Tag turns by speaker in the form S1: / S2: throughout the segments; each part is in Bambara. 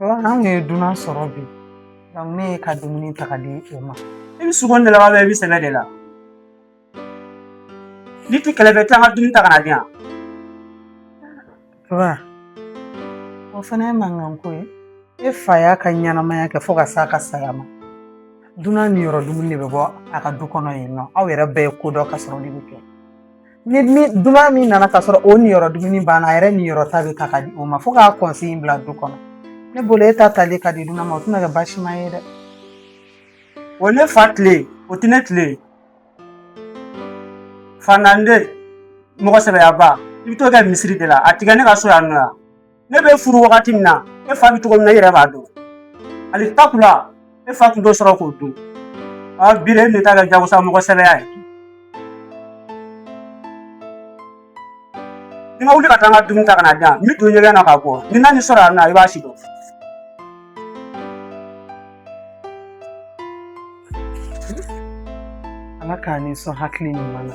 S1: An ye dunan sɔrɔ bi ne y'i ka dumuni ta ka di o ma i bɛ sugo de la wa i bɛ sɛbɛ de la n'i tɛ kɛlɛ fɛ taa n ka dumuni ta ka na di yan o fana ye mankan ko ye e fa y'a ka ɲɛnamaya kɛ fo ka se a ka saya ma dunan niyɔrɔ dumuni de bɛ bɔ a ka du kɔnɔ yen nɔ aw yɛrɛ bɛɛ ye ko dɔ ka sɔrɔ de bɛ kɛ ni dunan min nana ka sɔrɔ o niyɔrɔ dumuni banna a yɛrɛ niyɔrɔ ta bɛ ta ka di o ma fo k'a consigne bila du kɔnɔ ne bolo e ta tali ka di dunan ma o tɛna kɛ baasi ma ye dɛ o ne fa tile o tɛ ne tile ye fanande mɔgɔ sɛbɛyaba i bɛ t'o kɛ misiri de la a tɛ kɛ ne ka so yan nɔ yan ne bɛ furu wagati min na e fa bɛ cogo min na e yɛrɛ b'a dɔn hali takula e fa tun t'o sɔrɔ k'o dun aa bi de e bɛ taa kɛ jagosa mɔgɔ sɛbɛya ye n'i ma wuli ka taa n ka dumuni ta ka na di yan n bɛ don ɲɛgɛn na ka bɔ ni n nan'i sɔrɔ yan nɔ i b'a sidɔn ala ka n'i sɔn hakili ɲuman na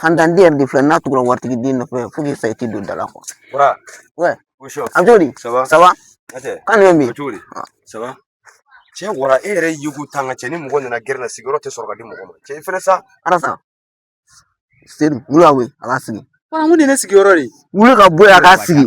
S1: Fantanden yɛrɛ de filɛ n'a tugura waritigi den nɔfɛ fo k'i sa i ti don da la a bɛ cogo di saba kan bɛ min cɛ wara e yɛrɛ y'i ko tan ka cɛ ni mɔgɔ nana gɛrɛ na sigiyɔrɔ tɛ sɔrɔ ka di mɔgɔ ma cɛ i fana sa ala sa sedu wuli a wuli a b'a sigi wuli ka bɔ yen a k'a sigi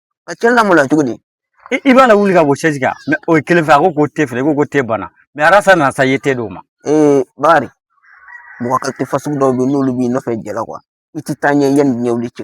S1: A cɛnni la maloya cogo di i b'a la wuli ka bɔ sɛsi kan o ye kelen fɛ a ko ko te filɛ ko ko te bana mɛ arasa nana sa i ye te d'o ma ee bari mɔgɔ qualité fasugu dɔw bɛ yen n'olu b'i nɔfɛ jɛla kuwa i ti taa ɲɛ yanni ɲɛ wuli cɛ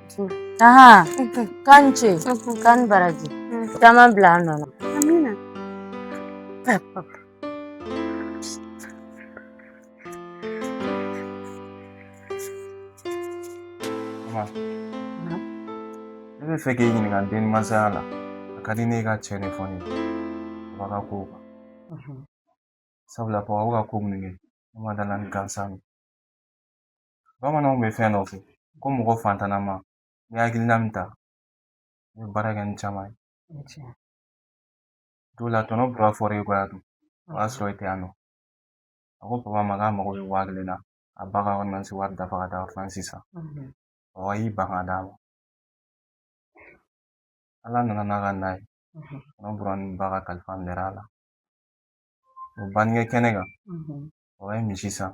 S1: Aha, k'a ni ce, k'a ni baraji, caman bila nɔ na. Amina. Ne b'a fɛ k'i ɲininka den masala la a ka di ne ye i ka cɛn de fɔ ne ye baba ka kow kan sabula baba bɛ ka ko minnu kɛ ne ma da a la ni gansan ye bamananw bɛ fɛn dɔ fɔ ko mɔgɔ fantanama ni hakilina min ta i bɛ baara kɛ ni caman ye don la tɔnɔ bɔra fɔra i kɔ yan dun o y'a sɔrɔ i tɛ yan nɔ a ko papa ma k'a mago bɛ waa kelen na a ba ka ordonnance wari dafa ka taa ordonnance san papa y'i ban ka d'a ma ala nana n'a ka na ye tɔnɔ bɔra ni ba ka kalifa minɛra a la o bangekɛ kɛnɛ kan papa ye misi san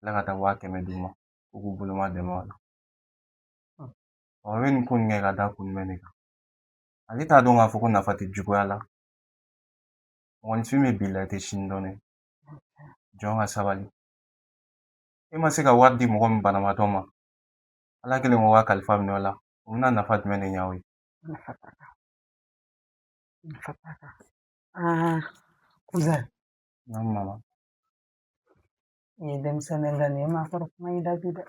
S1: la ka taa waa kɛmɛ d'u ma u k'u bolomadɛmɛ a la o bɛ nin ko nin kɛ ka da kun jumɛn de kan ale t'a dɔn k'a fɔ ko nafa tɛ juguya la mɔgɔninfin bɛ bi la i tɛ sini dɔn dɛ jɔn ka sabali e ma se ka wari di mɔgɔ min banabaatɔ ma ala kelen k'o ka kalifa minɛ o la o bɛna nafa jumɛn de ɲɛ o ye nafa t'a la nafa t'a la aa kuzɛn naamu mama i ye denmisɛnnin ye nka ne ye maakɔrɔ kuma y'i da bi dɛ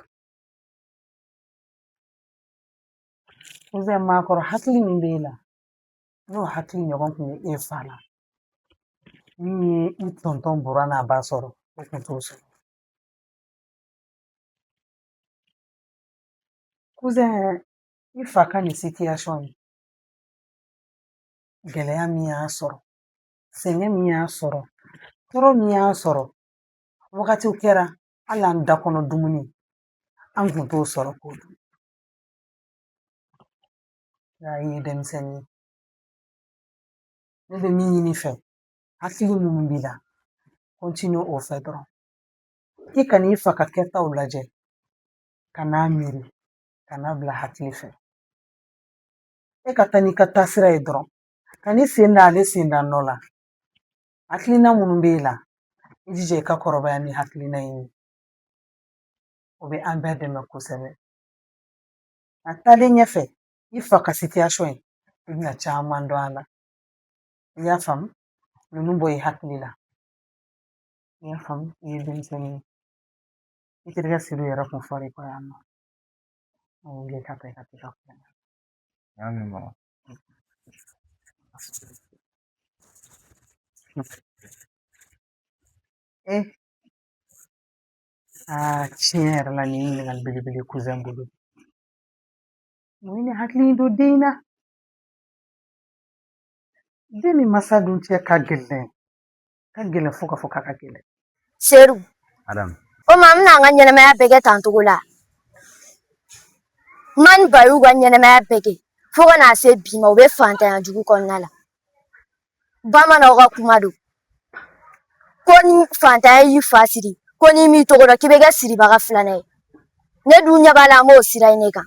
S1: kuzɛn maakɔrɔ hakili min b'e la n'o hakili ɲɔgɔn kun bɛ e fa la min ye i tɔntɔn Bura n'a ba sɔrɔ o kun t'u sɔrɔ kuzɛn i fa ka nin situation in gɛlɛya min y'a sɔrɔ sɛgɛn min y'a sɔrɔ tɔɔrɔ min y'a sɔrɔ wagatiw kɛra hali an da kɔnɔ dumuni an kun t'o sɔrɔ k'o dun y'a ye denmisɛnnin ne bɛ min ɲin'i fɛ hakili minnu b'i la continue o fɛ dɔrɔn i kan'i fa ka kɛtaw lajɛ kan'a miiri kan'a bila hakili fɛ e ka taa n'i ka taasira ye dɔrɔn Kan'i sen da ale sen da nɔ la hakilina minnu b'e la i jija i ka kɔrɔbaya ni hakilina in ye o bɛ an bɛɛ dɛmɛ kosɛbɛ a taalen ɲɛfɛ i fa ka sitiyasɔn ye i bɛna caman dɔn a la i y'a faamu ninnu bɔ i hakili la i y'a faamu i ye denmisɛnnin ye i terikɛ Seyidu yɛrɛ kun fɔra i kɔ yan nɔ an wuli ka taa i ka t'i ka kuma na. N y'a mɛn mama. Eh. Ah, ciyɛn yɛrɛ la nin ɲininkali belebele kuzɛn bolo mun ye nin hakili in don den na den ni masa dun cɛ ka gɛlɛn ka gɛlɛn fo ka fɔ k'a ka gɛlɛn Seyidu naamu o ma n bɛna n ka ɲɛnɛmaya bɛɛ kɛ tan cogo la n ma ni bayiw ka ɲɛnɛmaya bɛɛ kɛ fo ka na se bi ma u bɛ fantanya jugu kɔnɔna la bamananw ka kuma don ko ni fantanya y'i fa siri ko n'i m'i tɔgɔ dɔn k'i bɛ kɛ siribaga filanan ye ne dun ɲɛ b'a la an b'o sira in ne kan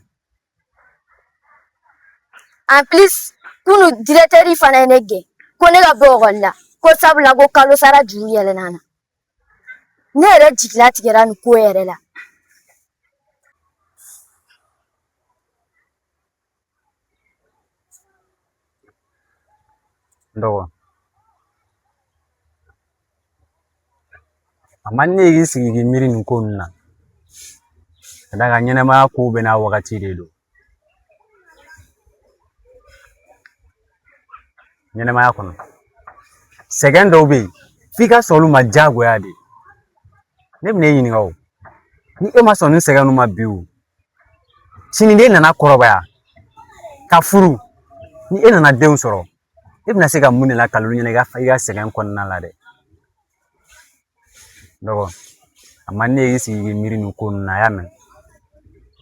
S1: en plus kunu directeur fana ye ne gɛn ko ne ka bɔ ekɔli la ko sabula ko kalo sara juru yɛlɛnna n na ne yɛrɛ jigi latigɛra nin ko yɛrɛ la n dɔgɔ a man di ne ye i k'i sigi k'i miiri nin ko ninnu na ka d'a kan ɲɛnɛmaya kow bɛɛ n'a wagati de don ɲɛnɛmaya kɔnɔ sɛgɛn dɔw bɛ yen f'i ka sɔn olu ma diyagoya de ne bɛ n'e ɲininka o ni e ma sɔn nin sɛgɛn ninnu ma bi o sini n'e nana kɔrɔbaya ka furu ni e nana denw sɔrɔ e bɛna se ka mun de lakali olu ye i ka sɛgɛn kɔnɔna la dɛ dɔgɔ a man ne y'i sigi k'i miiri nin ko ninnu na a y'a mɛn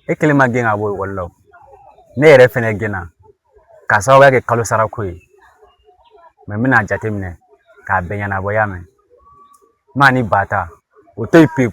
S1: e kelen ma gɛn ka bɔ ekɔli la o ne yɛrɛ fɛnɛ gɛnna k'a sababuya kɛ kalo sara ko ye mɛ n bɛna jateminɛ k'a bɛɛ ɲɛnabɔ i y'a mɛn maa ni ba ta o to yen pewu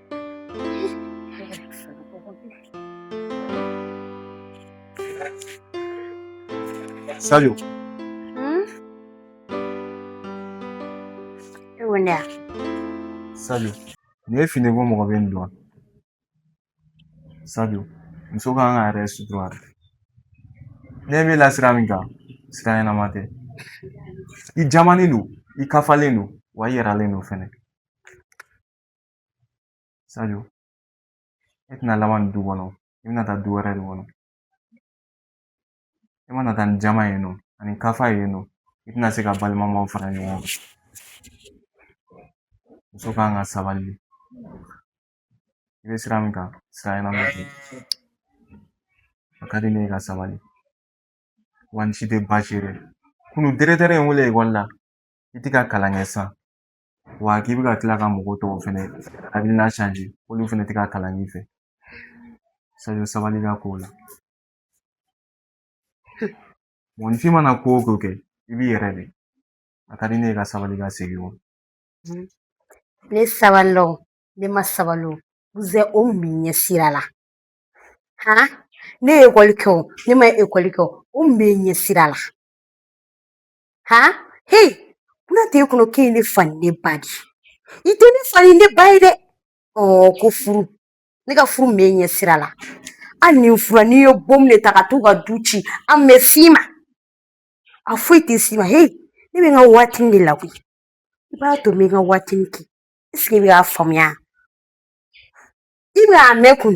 S1: Salut. Hmm? Wanda. Salut. Nin ye fini ko mɔgɔ bɛ nin don. Sadio, muso ka kan k'a yɛrɛ sutura de. Ne bɛ la sira min kan, sira ɲɛnama tɛ. I jamanen don, i kafalen don, wa i yɛrɛlen don fɛnɛ. Sadio e tɛna laban nin du kɔnɔ i bɛna taa du wɛrɛ de kɔnɔ e mana taa ni jamaya nɔ ani kafaya nɔ i tɛna se ka balimamaw fara ɲɔgɔn kan muso ka kan ka sabali i bɛ sira min kan sira ɲɛnama tɛ a ka di ne ye i ka sabali wa n si tɛ baasi ye dɛ kunu dirɛkitɛri ye n wele ekɔli la i tɛ ka kalan kɛ san wa k'i bɛ ka tila ka mɔgɔ tɔw fɛnɛ hakilina sanze olu fɛnɛ tɛ ka kalan i fɛ sajo sabali i ka ko la mɔgɔninfin mana ko o ko kɛ i b'i yɛrɛ de a ka di ne ye i ka sabali ka segin o ne sabalila o ne ma sabali o uzɛ o mun b'e ɲɛ sira la han ne ye ekɔli kɛ o ne ma ekɔli kɛ o o mun bɛ e ɲɛ sira la ha hey buna tɛ e kɔnɔ k'e ye ne fa ni ne ba de ye i tɛ ne fa ni ne ba ye dɛ ɔɔ ko furu ne ka furu mun bɛ e ɲɛ sira la hali ni n furula ni n ye bomu de ta ka t'u ka du ci a mun bɛ s'i ma a foyi tɛ s'i ma hey ne bɛ n ka waatini de la koyi i b'a to n bɛ n ka waatini kɛ eseke i bɛ k'a faamuya i bɛ a mɛn kun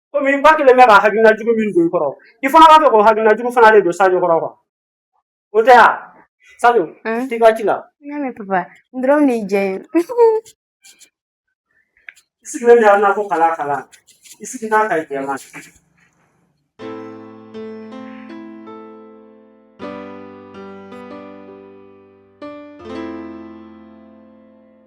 S1: komi ba kelen bɛ ka hakilina jugu min don i kɔrɔ i fana b'a fɛ k'o hakilina jugu fana de don sajo kɔrɔ ko o tɛ yan sajo t'i ka ci la n'a mɛ papa i dɔrɔn de jɛ ye i sigilen de yan na ko kala kala i sigi n'a ka jɛ ma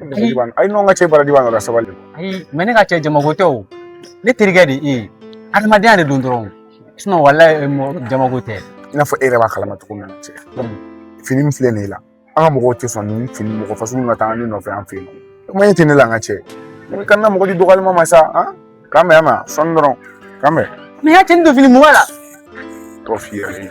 S1: A ye ɲɔgɔn ka cɛ bara di ka sabali ayi mɛ ne ka cɛ jamako tɛ o ne terikɛ de e ye adamadenya de don dɔrɔn wala jamako tɛ i n'a fɔ e yɛrɛ b'a kalama cogo min na cɛ fini min filɛ nin ye la an ka mɔgɔw tɛ sɔn ni fini mɔgɔ fasugu ka taa ne nɔfɛ an fɛ yen kuma in tɛ ne la an ka cɛ ne ka na mɔgɔ di dɔgɔyalima ma sa k'an bɛn yan ma sɔnni dɔrɔn k'an bɛn mɛ y'a cɛ ni don fini mɔgɔ la tɔ f'i yɛrɛ ye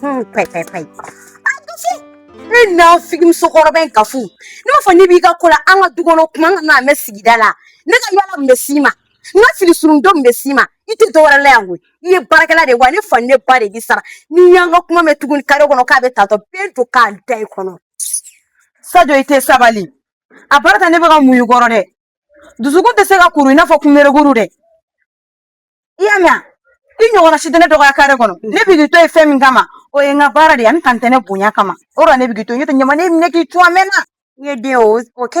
S1: Pɛɛ pɛɛ pɛɛ. Ne n'a figi musokɔrɔba in ka fu ne b'a fɔ ne b'i ka ko la an ka du kɔnɔ kuma an kan'a mɛn sigida la ne ka yala mun bɛ s'i ma n ka fini surun don mun bɛ s'i ma i tɛ dɔwɛrɛ la yan koyi i ye baarakɛla de ye wa ne fa ni ne ba de b'i sara n'i y'an ka kuma mɛn tuguni kare kɔnɔ k'a bɛ tantɔ bɛɛ don k'a da i kɔnɔ. Sadio i tɛ sabali a baara ta ne bɛ ka muɲu kɔrɔ dɛ dusukun tɛ se ka kuru i n'a fɔ kunberekuru dɛ i y'a mɛn i ɲɔgɔnna si tɛ ne dɔgɔya kare kɔnɔ ne b'i to ye fɛn min kama o ye n ka baara de ye ani tantɛnɛ bonya kama o de ne b'i to yen n'o tɛ ɲama ne y'i minɛ k'i cun a mɛnna n ye den o kɛ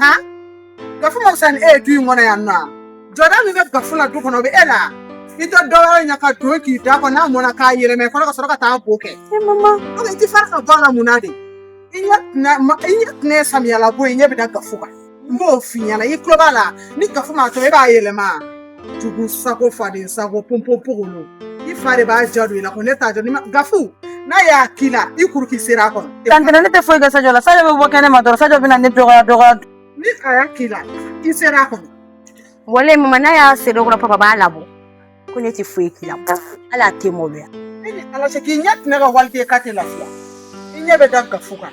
S1: ha gafu ma fisa ni e ye du in kɔnɔ yan nɔ wa jɔda min bɛ gafu la du kɔnɔ o bɛ e la i tɛ dɔ wɛrɛ ye ka don k'i da kɔ n'a mɔna k'a yɛlɛma i kɔnɔ ka sɔrɔ ka taa bo kɛ e mama donc i tɛ fara ka bɔ a la mun na de i ɲɛ tɛna ma i ɲɛ tɛna ye samiyalabo ye i ɲɛ bɛ da gafu kan n b'o f'i ɲɛna i tulo b'a la ni gafu m'a to e b'a yɛlɛma jugu sago faden sago ponponpogolo i fa de b'a ja don i la ko ne t'a jɔ ni ma gafu n'a y'a k'i la i kuru k'i seri a kɔnɔ tantɛnɛ ne tɛ foyi kɛ sajo la sajo bɛ bɔ kɛnɛ ma dɔrɔn sajo bɛna ne dɔgɔya dɔgɔya ni a y'a k'i la i seri a kɔnɔ wale mama n'a y'a se dɔ kɔrɔ papa b'a labɔ ko ne tɛ foyi k'i la hali a tɛ maloya ne ni ala cɛ k'i ɲɛ tɛmɛ ka waliden k'a tɛ lafiya i ɲɛ bɛ da gafu kan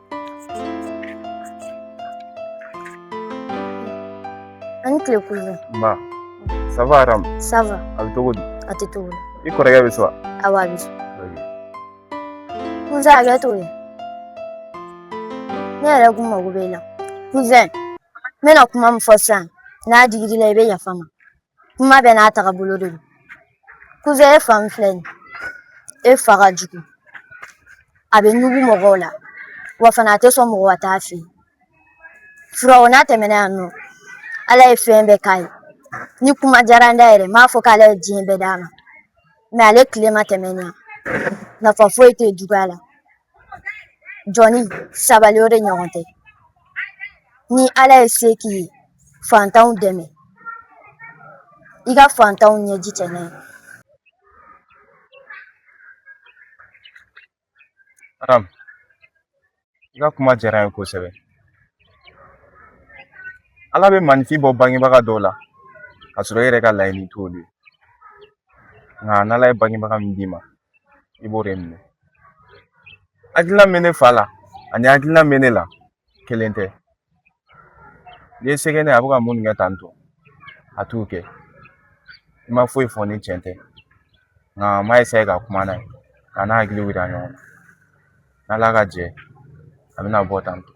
S1: ba ça va aram ça va a bɛ cogo di a tɛ cogo i kɔrɔkɛ bɛ so wa awɔ a bɛ so cousin a bɛ to yen ne yɛrɛ kun mago bɛ i la cousin n bɛna kuma min fɔ sisan n'a digir'i la i bɛ yafa n ma kuma bɛɛ n'a taga bolo de don kuzɛn i fa filɛ nin ye e fa ka jugu a bɛ ɲugu mɔgɔw la wa fana a tɛ sɔn mɔgɔ ka taa a fɛ yen furaw n'a tɛmɛna yan nɔ ala ye fɛn bɛɛ k'a ye ni kuma diyara n da yɛrɛ n b'a fɔ k'ala ye diɲɛ bɛɛ d'a ma mɛ ale tile ma tɛmɛ nin kan nafa foyi tɛ juguya la jɔni sabali o de ɲɔgɔn tɛ ni ala ye se k'i ye fantanw dɛmɛ i ka fantanw ɲɛji cɛ naamu i ka kuma diyara n ye kosɛbɛ ala bɛ maaninfin bɔ bangebaga dɔw la ka sɔrɔ i yɛrɛ ka laɲini t'olu ye nka n'ala ye bangebaga min d'i ma i b'o de minɛ hakilina bɛ ne fa la ani hakilina bɛ ne la kelen tɛ n'i sɛgɛnna a bɛ ka mun kɛ tɔntɔn a t'o kɛ i ma foyi fɔ ni cɛn tɛ nka n b'a ka kuma n'a ye ka n'a hakili yira ɲɔgɔn na n'ala ka jɛn a bɛna bɔ tɔntɔn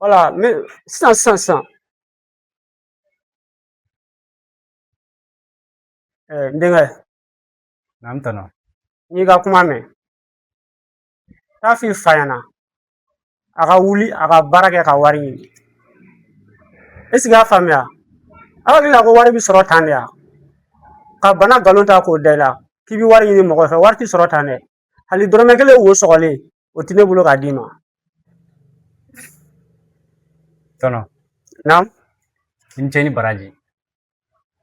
S1: wala mɛ sisan sisan sisan n denkɛ n'an tana n y'i ka kuma mɛn taa a f'i fa ɲɛna a ka wuli a ka baara kɛ ka wari ɲini ɛsiki i y'a faamuya aw hakili la ko wari bɛ sɔrɔ tan de yan ka bana nkalon ta k'o da i la k'i bɛ wari ɲini mɔgɔ fɛ wari tɛ sɔrɔ tan dɛ hali dɔrɔmɛ kelen wo sɔgɔlen o tɛ ne bolo k'a d'i ma tɔntɔn naamu i ni ce i ni baraji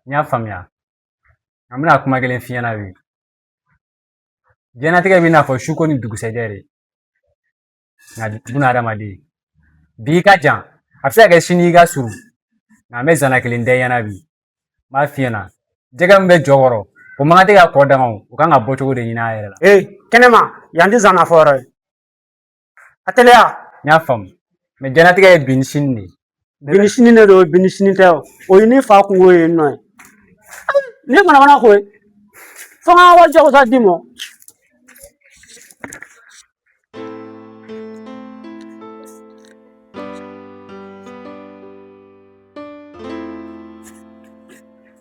S1: n y'a faamuya an bɛna kuma kelen f'i ɲɛna bi diɲɛnatigɛ bɛ i n'a fɔ suko ni dugusɛjɛ de nka buna hadamaden bi ka jan a bɛ se ka kɛ sini ka surun nka an bɛ zana kelen da i ɲɛna bi n b'a f'i ɲɛna jɛgɛ min bɛ jɔ kɔrɔ o man kan tɛ ka kɔ danga o ka kan ka bɔ cogo de ɲini a yɛrɛ la ee kɛnɛma yan tɛ zana fɔ yɔrɔ ye a teliya n y'a faamu mɛ jɛnatigɛ ye bi ni sini de ye bi ni sini de don bi ni sini tɛ o o ye ne fa kunko ye nɔ ye ne mana mana ko ye fo ka wari jagosa d'i ma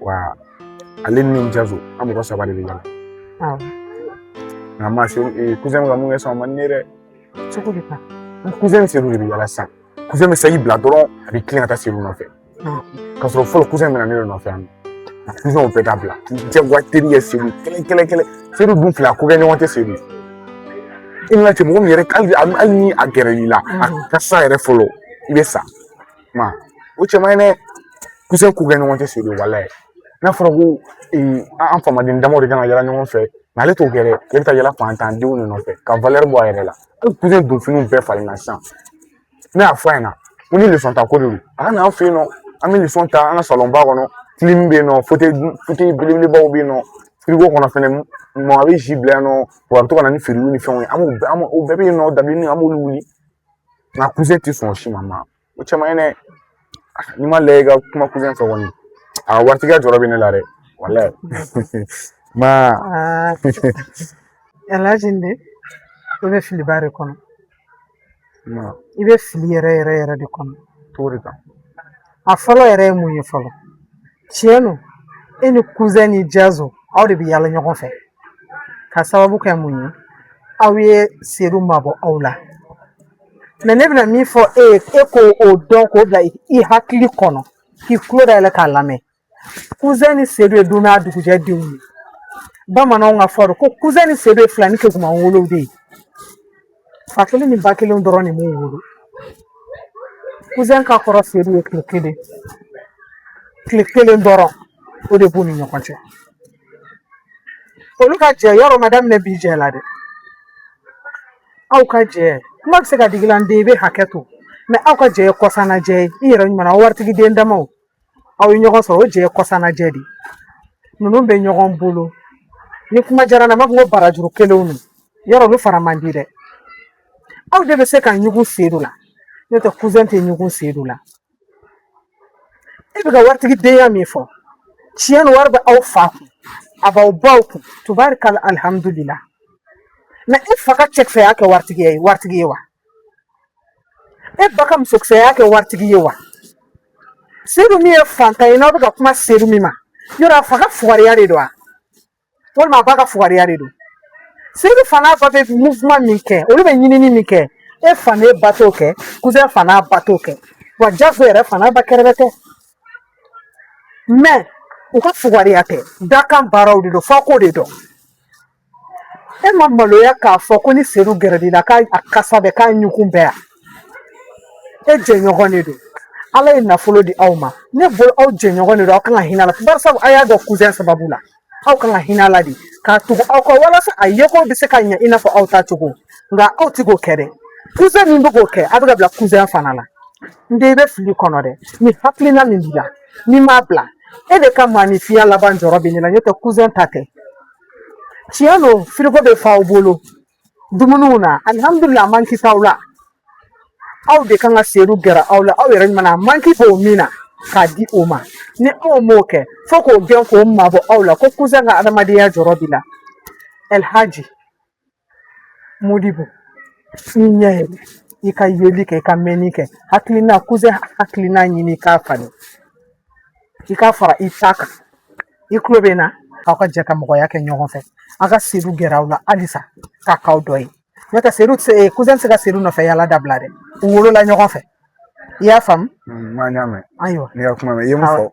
S1: wa ale ni jazo an mɔgɔ saba de bɛ ɲɔgɔn kan ma se kuzɛn ka min kɛ sisan o man di ne ye dɛ cogo di ka kuzɛn ni seliw de bɛ yaala sisan kuzɛn bɛ sayi bila dɔrɔn a bɛ tilen ka taa seliw nɔfɛ k'a sɔrɔ fɔlɔ kuzɛn bɛ na ne de nɔfɛ yan nɔ kuzɛnw bɛɛ ka bila jagoya teri ye seliw kelen kelen kelen seliw dun fila ko kɛ ɲɔgɔn tɛ seliw i nana ten mɔgɔ min yɛrɛ hali ni a gɛrɛl'i la a ka sa yɛrɛ fɔlɔ i bɛ sa kuma o cɛ man ɲi dɛ kuzɛn k'u kɛ ɲɔgɔn cɛ se walayi n'a fɔra ko an famaden damaw de kan ka yala ɲɔgɔn fɛ ale t'o kɛ dɛ e bɛ taa yala fantan denw de nɔfɛ ka bɔ a yɛrɛ la hali kuzɛn don finiw bɛɛ falenna sisan ne y'a fɔ a ɲɛna ko ni lesɔn ta ko de don a ka n'an fɛ yen nɔ an bɛ lesɔn ta an ka salonba kɔnɔ kilimu bɛ yen nɔ fotɛyi belebelebaw bɛ yen nɔ firigo kɔnɔ fɛnɛ mɔgɔ bɛ si bila yen nɔ wa a bɛ to ka na ni feerew ni fɛnw ye an b'o bɛɛ bɛ yen nɔ dabileni an b'olu wuli mɛ kuzɛn tɛ sɔn si ma o caman ye ne n'i m'a lajɛ i ka kuma kuzɛn fɛ kɔni a ka waritigiya jɔrɔ bɛ ne la dɛ walayi ma alaji n den i bɛ filiba de kɔnɔ i bɛ fili yɛrɛ yɛrɛ yɛrɛ de kɔnɔ cogo de kan a fɔlɔ yɛrɛ ye mun ye fɔlɔ tiɲɛ don e ni kuzɛn ni jazo aw de bɛ yala ɲɔgɔn fɛ ka sababu kɛ mun ye aw ye sedu mabɔ aw la mɛ ne bɛna min fɔ e ye e k'o dɔn k'o bila i hakili kɔnɔ k'i tulo dayɛlɛ k'a lamɛn kuzɛn ni sedu ye don n'a dugujɛ denw ye bamananw ka fɔ do ko kuzɛn ni sedu ye filanin keguman wolow de ye fa kelen ni ba kelen dɔrɔn de m'u wolo kuzɛn ka kɔrɔ sedu ye tile kelen tile kelen dɔrɔn o de b'u ni ɲɔgɔn cɛ olu ka jɛ yɛrɛ ma daminɛ bi jɛ la dɛ aw ka jɛ kuma bɛ se ka digi i la n den i bɛ hakɛ to mɛ aw ka jɛ ye kɔsanna jɛ ye i yɛrɛ ɲuman waritigi den damaw aw ye ɲɔgɔn sɔrɔ o jɛ ye kɔsanna jɛ de ninnu bɛ ɲɔgɔn bolo ni kuma diyara n na n b'a fɔ ko barajuru kelenw don yɛrɛ olu fara man di dɛ aw de bɛ se ka ɲugu sedu la n'o tɛ tɛ ɲugu sedu la e bɛ ka waritigi denya min fɔ tiɲɛ don wari bɛ aw fa kun a b'aw baw kun tubarikala alihamudulila mɛ e fa ka cɛkisɛya kɛ waritigi ye wa e ba ka musokisɛya kɛ waritigi ye wa sedu min ye fantan ye n'aw bɛ ka kuma sedu min ma yɛrɛ a fa ka fugariya de don wa walima a ba ka fugariya de don sedu fa n'a ba bɛ muvuman min kɛ olu bɛ ɲinini min kɛ e fa n'e ba t'o kɛ kuzɛn fa n'a ba t'o kɛ wa jazo yɛrɛ fa n'a ba kɛrɛbɛtɛ mɛ u ka fugariya tɛ dakan baaraw de don f'i k'o de dɔn e ma maloya k'a fɔ ko ni sedu gɛrɛl'i la k'a kasa bɛ k'a ɲugun bɛɛ yan e jɛɲɔgɔn de don ala ye nafolo di aw ma ne bolo aw jɛɲɔgɔn de don aw kan ka hinɛ a la barisa aw y'a dɔn kuzɛn sababu la aw kan ka hinɛ a la de k'a tugu aw kɔ walasa a yeko bɛ se ka ɲɛ i n'a fɔ aw ta cogo nka aw ti k'o kɛ dɛ kuzɛn min bɛ k'o kɛ aw bɛ ka bila kuzɛn fana la n den i bɛ fili kɔnɔ dɛ ni hakilina min b'i la n'i m'a bila e de ka maa ni fiɲɛ laban jɔrɔ bɛ ne la n'o tɛ kuzɛn ta tɛ tiɲɛ don firigo bɛ fa aw bolo dumuniw na alihamudulila a manki t'aw la aw de kan ka sedu gɛrɛ aw la aw yɛrɛ ɲuman a manki b'o min na k'a di o ma ni aw m'o kɛ fo k'o gɛn k'o mabɔ aw la ko kusan ka adamadenya jɔrɔ b'i la ɛlhaji modibo i ɲɛ yɛlɛ i ka yeli kɛ i ka mɛnni kɛ hakilina kusan hakilina ɲini k'a falen i k'a fara i ta kan i tulo bɛ n na aw ka jɛ ka mɔgɔya kɛ ɲɔgɔn fɛ aw ka sedu gɛrɛ aw la halisa k'a k'aw dɔ ye n'o tɛ sedu tɛ kusan tɛ se ka sedu nɔfɛ yala dabila dɛ u wolola ɲɔgɔn fɛ i y'a faamu n y'a mɛn ayiwa ne ka kuma mɛn i ye min fɔ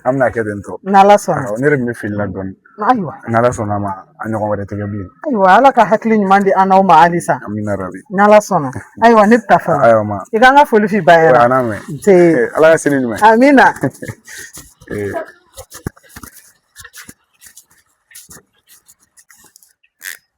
S1: an bɛn'a kɛ ten tɔ n'ala sɔnna ne yɛrɛ bɛ fili la dɔɔnin ayiwa n'ala sɔnna ma a ɲɔgɔn wɛrɛ tɛ kɛ bilen ayiwa ala ka hakili ɲuman di an n'aw ma halisa amina rabi n'ala sɔnna ayiwa ne bɛ taa fɔlɔ ayiwa ma i k'an ka foli f'i bara a n'a mɛn ala ka sini ɲuman amina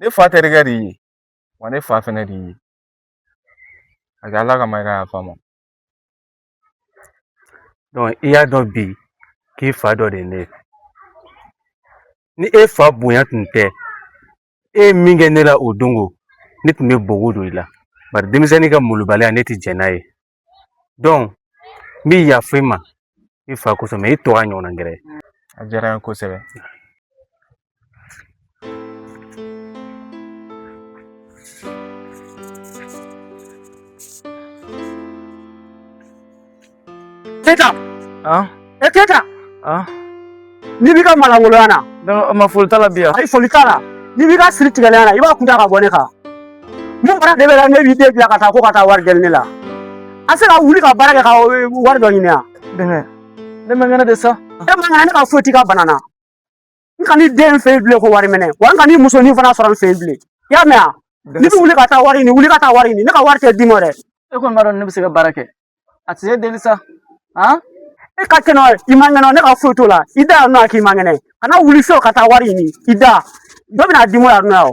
S1: ne fa terikɛ de ye wa ne fa fɛnɛ de ye a kɛ ala kama i ka yafa n ma i y'a dɔn bi k'i fa dɔ de ye ne ye ni e fa bonya tun tɛ e ye min kɛ ne la o don ko ne tun bɛ bugɔ don i la bari denmisɛnnin ka molobaliya ne tɛ jɛn n'a ye donc n bɛ yafa i ma i fa kosɔn mɛ i t'o ɲɔgɔnna kɛ dɛ a diyara n ye kosɛbɛ Seydou. Han? E teta. Ah. N'i b'i ka malangoloya na. Da ma foyi t'a la biya. Ayi foyi t'a la. N'i b'i ka siri tigɛlenya na i b'a kun ta ka bɔ ne kan. Mun fana de b'e la n'e b'i den bila ka taa ko ka taa wari deli ne la. A tɛ se ka wuli ka baara kɛ ka wari dɔ ɲini yan. Dɛmɛ. Ne man kɛnɛ de sa. E man kɛnɛ ne ka foyi t'i ka bana na. n kan'i den fɛ bilen ko wari minɛ wa n kan'i musonin fana sɔrɔ n fɛ bilen i y'a mɛn wa n'i bɛ wuli ka taa wari ɲini wuli ka taa wari ɲini ne ka wari tɛ d'i ma dɛ e kɔni b'a dɔn ni n bɛ se ka baara kɛ a tɛ se deli sa han e ka kɛnɛ i man kɛnɛ ne ka foyi t'o la i da yan nɔ k'i man kɛnɛ kana wuli fiyewu ka taa wari ɲini i da dɔ bɛna d'i ma yan nɔ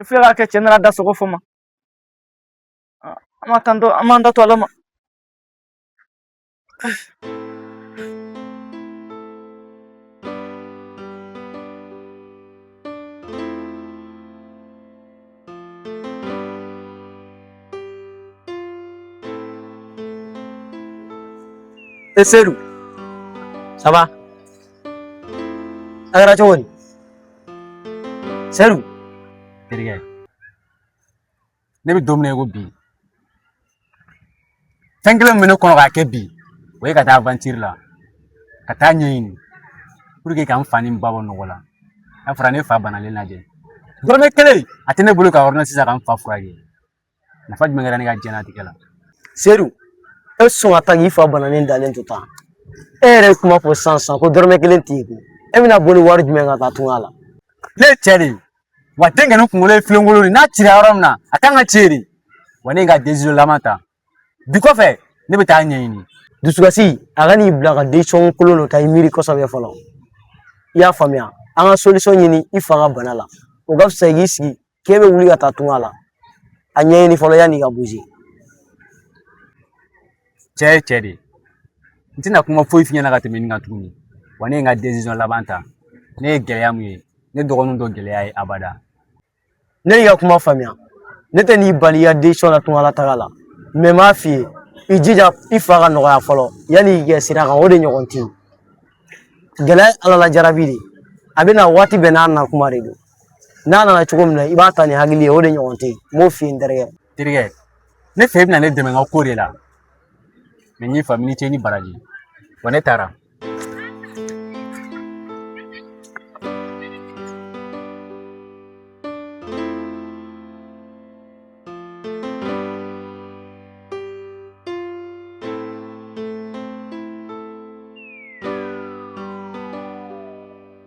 S1: i filɛ k'a kɛ cɛ nana da sogo fɔ ma an ma tan to an b'an ta to ala ma E Seydou ça va a kɛra cogo di sedu terikɛ ne bɛ don min na i ko bi fɛn kelen min bɛ ne kɔnɔ k'a kɛ bi o ye ka taa avantiri la ka taa ɲɛɲini puruke ka n fa ni n ba bɔ nɔgɔ la n'a fɔra ne fa banalen dalen de dɔrɔmɛ kelen a tɛ ne bolo ka ɔrdɔnansi san ka n fa furakɛ nafa jumɛn kɛra ne ka diɲɛlatigɛ la sedu e sɔn ka taa k'i fa bananen dalen to tan e yɛrɛ ye kuma fɔ sisan sisan ko dɔrɔmɛ kelen t'i kun e bɛna boli wari jumɛn ka taa tunga la ne ye cɛ de ye wa denkɛnin kunkolo ye filenkolon de n'a cira yɔrɔ min na a kan ka cɛ de wa ne ye n ka desizɔn laban ta bi kɔfɛ ne bɛ taa ɲɛɲini dusukasi a kan'i bila ka desizɔn kolon dɔ ta i miiri kosɛbɛ fɔlɔ i y'a faamuya an ka solisɔn ɲini i fa ka bana la o ka fisa i k'i sigi k'e bɛ wuli ka taa tunga la a ɲɛɲini fɔlɔ yanni i ka buze cɛ ye cɛ de ye n tɛna kuma foyi f'i ɲɛna ka tɛmɛ nin kan tuguni wa ne ye n ka laban ta ne ye gɛlɛya min ye ne dɔgɔninw t'o gɛlɛya ye abada ne y'i ka kuma faamuya ne tɛn'i bali i ka desizɔn na tunga la taga la mɛ n b'a f'i ye i jija i fa ka nɔgɔya fɔlɔ yanni i kɛ sira kan o de ɲɔgɔn tɛ yen gɛlɛya ye ala la jarabi de a bɛ na waati bɛɛ n'a na kuma de don n'a nana cogo min na i b'a ta ni hakili ye o de ɲɔgɔn tɛ yen n b'o f'i ye n terikɛ terikɛ ne fɛ i bɛna ne dɛmɛ n ka ko de la mɛ n y'i faamu i ni ce i ni baraji wa ne taara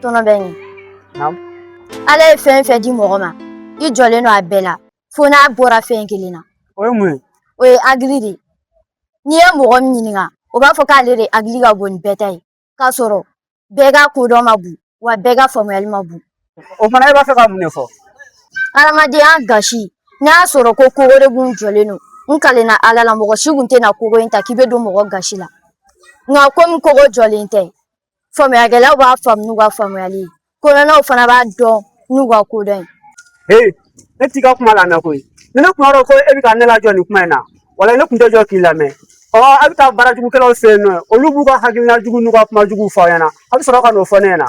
S1: tɔnɔ bɛ ɲɛ Naamu. ala ye fɛn o fɛn di mɔgɔ ma i jɔlen don a bɛɛ la fo n'a bɔra fɛn kelen na o ye mun ye o ye hakili de ye n'i ye mɔgɔ min ɲininka o b'a fɔ k'ale de hakili ka bon ni bɛɛ ta ye k'a sɔrɔ bɛɛ ka kodɔn man bon wa bɛɛ ka faamuyali man bon o fana e b'a fɛ ka mun de fɔ hadamadenya gasi n'a y'a sɔrɔ ko kogo de kun jɔlen don n kalenna ala la mɔgɔ si kun tɛna kogo in ta k'i bɛ don mɔgɔ gasi la nka komi kogo jɔlen tɛ faamuyakɛlaw b'a faamu n'u ka faamuyali ye kodɔnnaw fana b'a dɔn n'u ka kodɔn ye ee ne t'i ka kuma lamɛn koyi ni ne kun b'a dɔn ko e bɛ ka ne lajɔ nin kuma in na walayi ne tun tɛ jɔ k'i lamɛn ɔ a bɛ taa baarajugukɛlaw fɛ yen nɔ olu b'u ka hakilina jugu n'u ka kuma juguw fɔ aw ɲɛna a bɛ sɔrɔ ka n'o fɔ ne ɲɛna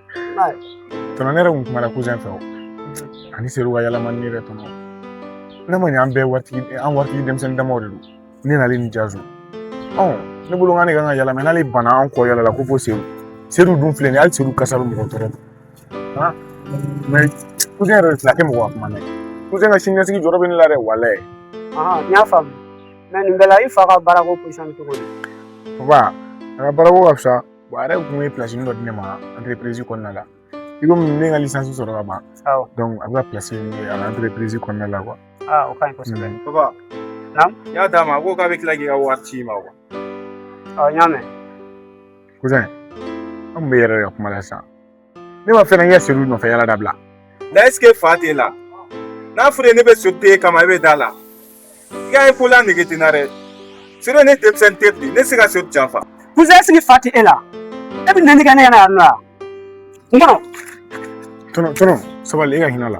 S1: tɔnɔ ne yɛrɛ kun kumana kuzɛn fɛ o ani sedu ka yaala man ɲi yɛrɛ tɔnɔ ne ma ɲɛ an bɛɛ waritigi an waritigi denmisɛnnin damaw de don ne nalen ni jazo ɔ ne bolo k'an de kan ka yaala mɛ ale banna an kɔ yaala la ko fo sedu sedu dun filɛ nin ye hali sedu kasa bɛ mɔgɔ tɔɔrɔ han mɛ kuzɛn yɛrɛ de tila kɛ mɔgɔ ka kuma mɛn kuzɛn ka siniɲɛsigi jɔrɔ bɛ ne la dɛ walayi n y'a faamu mɛ nin bɛɛ la i fa ka baarako pozisɔn cogo di papa a ka baarako ka fisa bon a yɛrɛ kun ye pilasi dɔ di ne ma anterepirizi kɔnɔna la i komi ne ka lisansi sɔrɔ ka ban awɔ donc a bɛ ka pilasi ye a ka anterepirizi kɔnɔna la kuwa aa o ka ɲi kosɛbɛ papa Naamu? n y'a d'a ma a ko k'a bɛ tila k'i ka wari ci i ma kuwa ɔ n y'a mɛn kuzɛn an kun b'e yɛrɛ de ka kuma la sisan ne ma fɛn kɛ seliw nɔfɛ yaala dabila na ɛsike fa t'e la n'a fɔra ne bɛ so de kama e bɛ da la i ka ye ko la nege tɛ n na dɛ sere ne denmisɛnnin tɛ bi ne se ka so janfa kuzɛn ɛsike fa tɛ e la e bɛ neni kɛ ne ɲɛna yan nɔ wa n kɔnɔ tɔnɔ tɔnɔ sabali e ka hinɛ la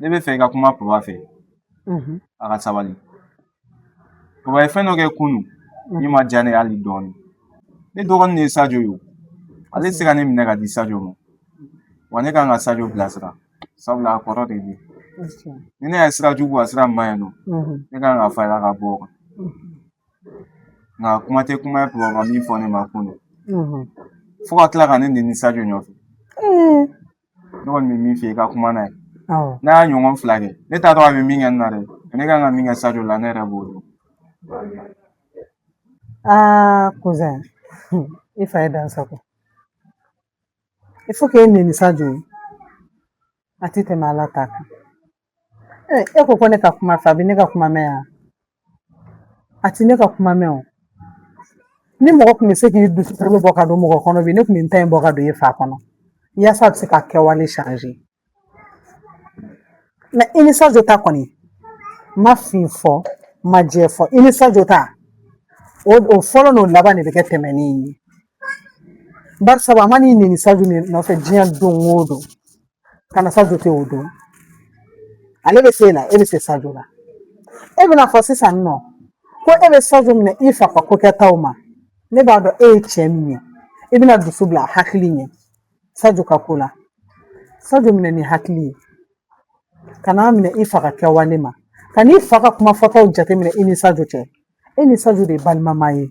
S1: ne b'a fɛ i ka kuma papa fɛ a ka sabali papa ye fɛn dɔ kɛ kunu min ma diya ne ye hali dɔɔnin ne dɔgɔnin de ye sajo ye ale tɛ se ka ne minɛ ka di sajo ma wa ne kan ka sajo bilasira sabula a kɔrɔ de bɛ ni ne ye sira jugu a sira ma ɲi nɔ ne kan k'a fara ka bɔ o kan nka kuma tɛ kuma ye papa min fɔ ne ma kunu fo ka tila ka ne neni sajo nɔfɛ ne kɔni bɛ min f'i ye i ka kuma n'a ye n'a y'a ɲɔgɔn fila kɛ ne t'a dɔn a bɛ min kɛ n na dɛ ne kan ka min kɛ sajo la ne yɛrɛ b'o dɔn aa kuzɛn i fa ye dan sagon i fa k'e neni sajo ye a tɛ tɛmɛ ala ta kan Eh, e ko ko ne ka kuma a fɛ a bɛ ne ka kuma mɛn wa a ti ne ka kuma mɛn o ni mɔgɔ tun bɛ se k'i dusukolo bɔ ka don mɔgɔ kɔnɔ bi ne tun bɛ n ta in bɔ ka don e fa kɔnɔ yaasa a bɛ se k'a kɛwale change mɛ i ni sajo ta kɔni n ma fin fɔ n ma jɛ fɔ i ni sajo ta o o fɔlɔ n'o laban de bɛ kɛ tɛmɛni ye barisa a man'i neni sajo nɔfɛ diɲɛ don o don kana sajo tɛ o dɔn ale bɛ se la e bɛ se sajo la e bɛna fɔ sisan nɔ ko e bɛ sajo minɛ i fa ka ko kɛtaw ma ne b'a dɔn e ye cɛ min ye i bɛna dusu bila hakili ɲɛ sajo ka ko la sajo minɛ ni hakili ye kan'a minɛ i fa ka kɛwale ma kan'i fa ka kuma fɔtaw jateminɛ i ni sajo cɛ e ni sajo de ye balimama ye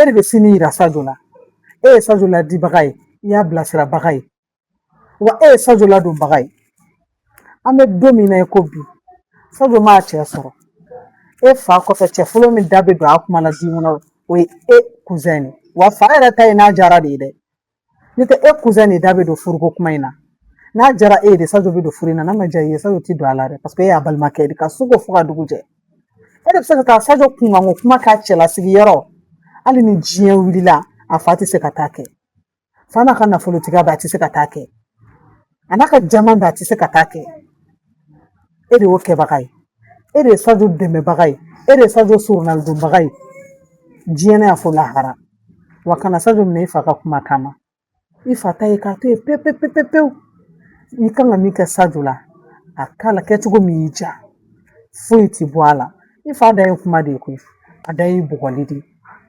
S1: e de bɛ sini yira sajo la e ye sajo laadibaga ye i y'a bilasirabaga ye wa e ye sajo ladonbaga ye an bɛ don min na i ko bi sajo mana cɛ sɔrɔ e fa kɔfɛ cɛ fɔlɔ min da bɛ don a kuma la du kɔnɔ o ye e kuzɛn de wa fa yɛrɛ ta ye n'a diyara de ye dɛ N'o tɛ e kuzɛn de da bɛ don furuko kuma in na n'a diyara e ye sajo bɛ don furu in na n'a ma diya i ye sajo tɛ don a la dɛ paseke e y'a balimakɛ de ka su ko fo ka dugu jɛ e de bɛ se ka taa sajo kunkanko kuma k'a cɛlasigi yɔrɔ hali ni diɲɛ wulila a fa tɛ se ka t'a kɛ fa n'a ka nafolotigiya bɛɛ a tɛ se ka t'a kɛ a n'a ka jama don a tɛ se ka taa kɛ e de y'o kɛbaga ye e de ye sajo dɛmɛbaga ye e de ye sajo surunalidonbaga ye diɲɛ na fo lahara wa kana sajo minɛ i fa ka kuma kama i fa ta ye k'a to yen pewu pewu pewu pewu i kan ka min kɛ sajo la a k'a la kɛcogo min y'i diya foyi tɛ bɔ a la i fa ta ye kuma de ye koyi a ta ye bɔgɔli de ye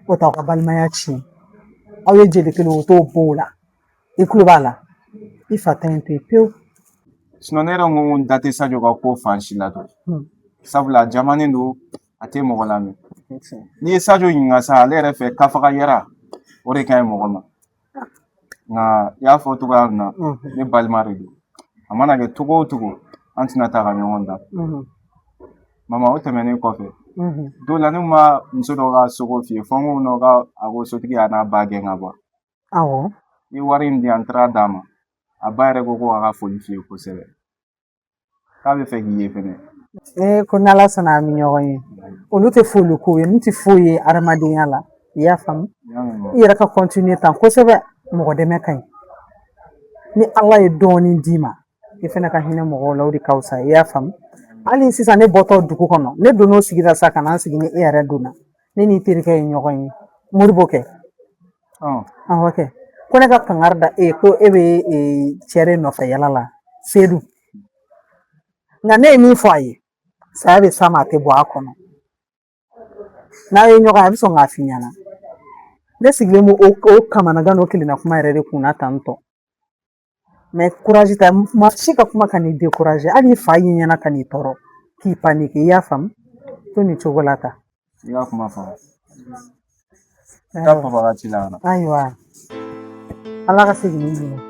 S1: o t'aw ka balimaya tiɲɛ aw ye jeli kelen o t'o b'o la i kulo b'a la i fa ta in to yen pewu sinɔn ne yɛrɛ ko n da tɛ sajo ka ko fan si la dɔn hmm. sabula a jamanen don a tɛ mɔgɔ lamɛn n'i ye sajo ɲininka sa ale yɛrɛ fɛ k'a faga yɛrɛ o de ka ɲi mɔgɔ ma nka i y'a fɔ cogoya min na hmm. ne balima de don a mana kɛ cogo o cogo an tɛna taa ka ɲɔgɔn dan hmm. mama o tɛmɛnen kɔfɛ don la ne ma muso dɔ ka so ko f'i ye fɔ n ko nɔ ka a ko sotigi y'a n'a ba gɛn ka bɔ awɔ ni wari in di an taara d'a ma a ba yɛrɛ ko ko a ka foli f'i ye kosɛbɛ k'a b'a fɛ k'i ye fɛnɛ ee ko ni ala sɔnna an bɛ ɲɔgɔn ye olu tɛ foli ko ye nin tɛ foyi ye adamadenya la i y'a faamu i yɛrɛ ka kɔntiniye tan kosɛbɛ mɔgɔ dɛmɛ ka ɲi ni ala ye dɔɔnin d'i ma i fana ka hinɛ mɔgɔw la o de ka fisa i y'a faamu hali sisan ne bɔtɔ dugu kɔnɔ ne donn'o sigi la sa ka na n sigi ni e yɛrɛ donna ne n'i terikɛ ye ɲɔgɔn ye modibo kɛ awɔ kɛ ko ne ka kangari da e ko e bɛ cɛ de nɔfɛ yala la sedu nka ne ye min fɔ a ye saya bɛ s'a ma a tɛ bɔ a kɔnɔ n'aw ye ɲɔgɔn ye a bɛ sɔn k'a f'i ɲɛna ne sigilen b'o o kamanagan n'o kelenna kuma yɛrɛ de kunna tantɔ mɛ kurazi ta maa si ka kuma kan'i dekuraze hali n'i fa y'i ɲani a kan'i tɔɔrɔ k'i panike i y'a faamu to nin cogo la tan i y'a kuma faamu ayiwa ala ka segin n'i ɲuman